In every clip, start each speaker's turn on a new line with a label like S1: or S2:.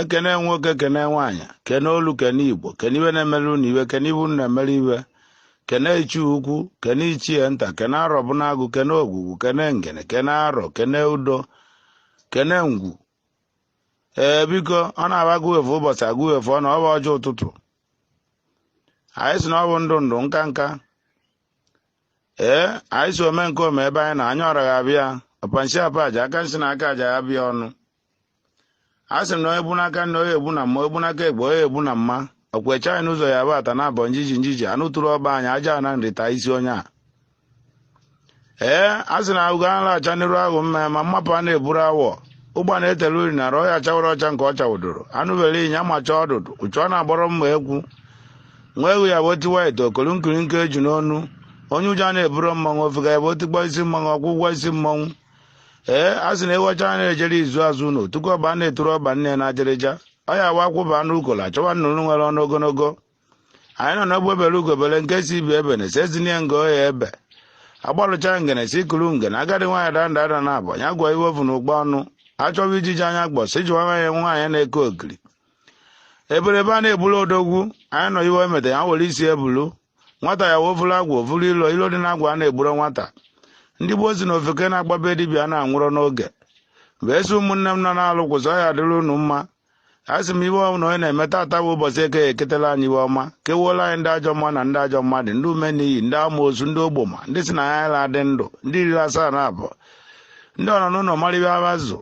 S1: ekene nwoke kene nwaanyị kene olu kene igbo kene iwe na-emere unu iwe kene ibu na-emere iwe kene ichie ukwu kene ichie nta kene arọ bi n'agụ kene ogwugwu kene ngene kene arọ kene udo kene ngwu ee biko ọ na-aba agụwefu ụbọchị agụwefu ọ na ọ bụ ọjị ụtụtụ anyị si na ọ bụ ndụ ndụ nka nka ee anyị si ome nke ome ebe anyị na anya ọra ga-abịa ọpa nshi apa aja aka nsi na aka aja ya ba ọnụ a sị na onye bụ n'aka nri onye egbu na mma onye bụ n'aka ekpe onye egbu na mma ọkwụ eche anyị n'ụzọ ya bụ ata na abọ njiji njiji anụ tụrụ ọba anyị aja na nri taa isi onye a ee a sị na ahụgo anụ acha n'iru ahụ mma ma mmapụ a na-eburu awọ ụgba na-etele uri na ọhịa chawara ọcha nke ọ chawụdoro anụ bere ịnya macha ọdụdụ uchu ọ na-agbọrọ mma ekwu nwa ewu ya bụ otiwa ite okolu nkirika eju n'onu onye ụjọ na-eburu mmanwụ ofega ya bụ otikpọ isi mmanwụ ọkwụ ụgwọ isi mmanwụ ee a sị na ewu ọcha na-ejere izu azụ ụlọ tupu ọba na-eturu ọba nne na ajịrịja ọ ya wa akwụba anụ ukola chọwa nnụnụ nwere ọnụ ogologo anyị nọ n'egbe bere ugo bere nke si ibe ebena esi ezinye nga ọ ya-ebe agbalụcha ngene si kuru ngene agadi nwaanyị da nda ada naabọ ya gụa iwe o vu na ụkpa ọnụ achọwa ijiji anya kpọ si jewe nwaanyị nwaanyị na-eke ogiri eberebe a na-ebulu odogwu anyị nọ iwe emeta ya were isi bulu nwata ya wee vụrụ agwọ vụrụ ilo ilo dị n'agwọ a na-egburo nwata ndị gboo si na ofeke na-agba be dibịa na-anwụrọ n'oge wee sị ụmụnne m nọ n'alụ kwụsị ọ ya-adịrị unu mma a sị m iwe ọbụla onye na-eme tata bụ ụbọchị eke ya eketela anyị iwe ọma kewuola anyị ndị ajọ mma na ndị ajọ mmadụ ndị ume na iyi ndị amoosu ndị ogboma ndị si na ya ala adị ndụ ndị riri asaa na abụọ ndị ọnọ n'ụlọ mara iwe avịa zụ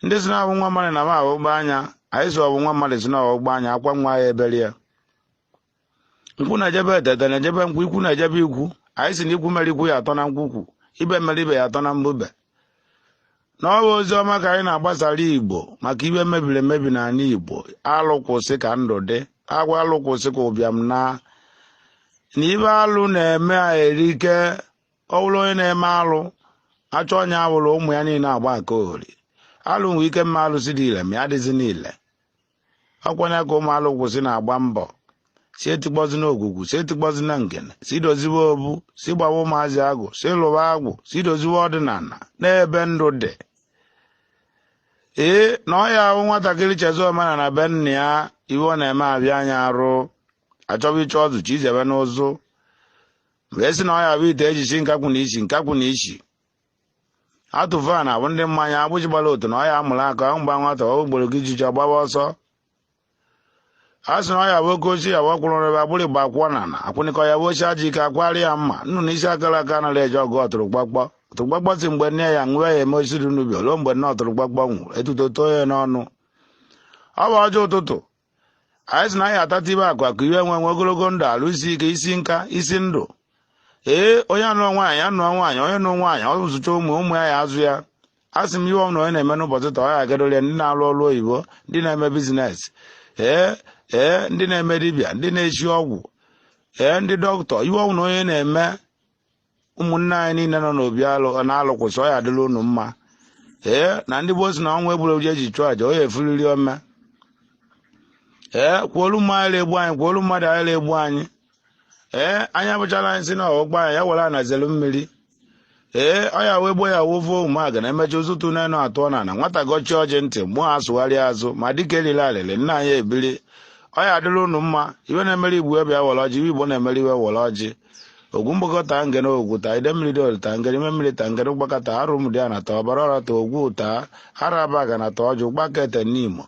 S1: ndị si na-abụ nwa mmadụ na ma abụgba anya anyị si ọbụ nwa mmadụ si na ọgbụgba anya akwa nwa ya ebere ya nkwụ na-eje be ete ete na-eje be nkwụ ikwu na-eje be ikwu anyị si na ikwu mere ikwu ya atọ na nkwukwu ibe mere ibe ya atọ na mbube na ọ bụ ozi ọma ka anyị na-agbasara igbo maka iwe mebiri emebi n'ala igbo alụ kwụsị ka ndụ dị agwa alụ kwụsị ka ụbịam naa na iwe alụ na-eme erike ọ bụrụ onye na-eme alụ achọ onye awụrụ ụmụ ya niile agba nke ohori alụ nwee ike mee alụsị dị ile ma ya adịzina ile ọkwanye ka ụmụ alụ kwụsị na-agba mbọ si etikpọzina ogwugwu si etikpọzina ngene si doziwe obu si gbawa ụmụazị agwụ si lụwa agwụ si doziwe ọdịnana n'ebe ndụ dị ee na ọ ya bụ nwatakịrị chezọ omenana be nna ya iwe ọ na-eme abịa anya arụ achọba ịchọ ọzụ chi izebe n'ụzụ mgbe esi na ọ ya bụ ite e ji shi nkakwụ na ishi nkakwụ na ishi atụ va na-abụ ndị mmanya agbụji gbara otu na ọ ya amụrụ aka aṅụ gbaa nwata okporo ijiji ọ gbaba ọsọ a sị na ọ ya-abụ oke ochie ya bụ ọkwụrụ rebe agbụrụ igba akwụkwọ na na akwụnịkọ ya bụ ochie aji ike akwari ya mma nnụnụ isi akara aka anaghị eje ọgụ ọtụrụkpọkpọ ọtụrụkpọkpọ sị mgbe nne ya nwụọ ya eme osisi n'ubi ruo mgbe nne ọtụrụkpọkpọ nwụrụ etuto too ya n'ọnụ ọ bụ ọjị ụtụtụ anyị sị na anyị atata ịba akụ akụ iwe nwe nwe ogologo ndụ arụ isi ike isi nka isi ndụ ee onye anụọ nwaanyị anụọ nwaanyị onye nụ nwaanyị ọ zụcha ụmụ ụmụ ya ya-azụ ya a sị m ihe ọbụla onye na-eme n'ụbọchị taa ọ ya agadole ndị na-alụ ọrụ oyibo ndị na-eme business ee ee ndị na-eme dibịa ndị na-esi ọgwụ ee ndị dọkịta ihe ọbụla onye na-eme ụmụnne anyị niile nọ n'obi alụ na-alụkwụsị ọ ya-adịlị unu mma ee na ndị gboo sị na ọnwa egburu eji eji chụọ aja ọ ya efuliri ome ee kwuolu mma anyị egbu anyị kwuolu mmadụ anyị egbu anyị ee anyị abụchala anyị sị na ọgbọ anyị ya were anazelu mmiri ee ọ ya wee gboo ya wovo ụmụaga na emechi ụzụtụ n'enu atụ na na nwata gọchi ọjị ndị mmụọ atụgharịa azụ ma dịka elile alịlị nna anyị ebili ọ ya-adịlị unu mma iwe na-emere igbo ebe ya were ọjị iwe igbo na-emere iwe were ọjị ogwu mgbakọ taa ngene ogwu taa idemmiri dị olu taa ngene ime mmiri taa ngene ụgbaka taa arọ ụmụdịana taa ọbara ọra taa ogwu taa arọ abagana taa ọjụ ụgbaka ete nimo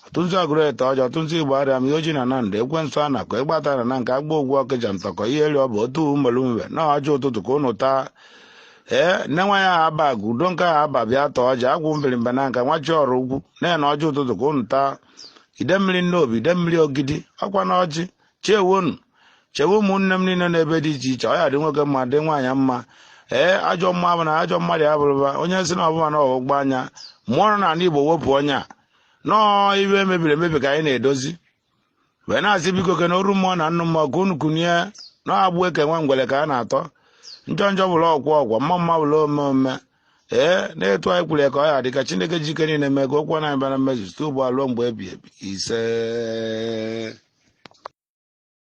S1: ọtụntụ agụrụ ete ọjọ ọtụntụ igbariam iyi ọjị na nando ekwensu anaku ịgbata na na nke agba ogwu ọkịja ntọkọ ihe eri ọ bụ otu umelu mwe na ọjị ụtụtụ ka unu taa ee nne nwa ya aba agụ udo nke ahụ aba bịa taa ọjị agwụ mbirimba na nka nwachi ọrụ ugwu na-ene ọjị ụtụtụ ka unu taa idemmiri nnobi idemmiri ogidi ọ kwa na ọjị chewonu chewe ụmụnne m niile n'ebe dị iche iche ọ ya-adị nwoke mma dị nwaanyị mma ee ajọ mmụọ na ajọ mmadụ ya bụrụba onye sị na ọ bụ ma na ọgbụgba anya mụọ nọ n'ala igbo wepụ onye a nọọ iwe mebiri emebi ka anyị na-edozi wee na-asị biko kene oru mmụọ na nnụ mmụọ ka unu kunie na agbụ eke nwa ngwere ka a na-atọ njọ njọ bụrụ okwu okwu mma mma bụrụ ome ome ee na etu anyị kwuru ya ka ọ ya-adị ka chineke ji ike niile mee ka okwu ọnụ anyị bịa na mmezu site ugbu a ruo mgbe ebi ebi ise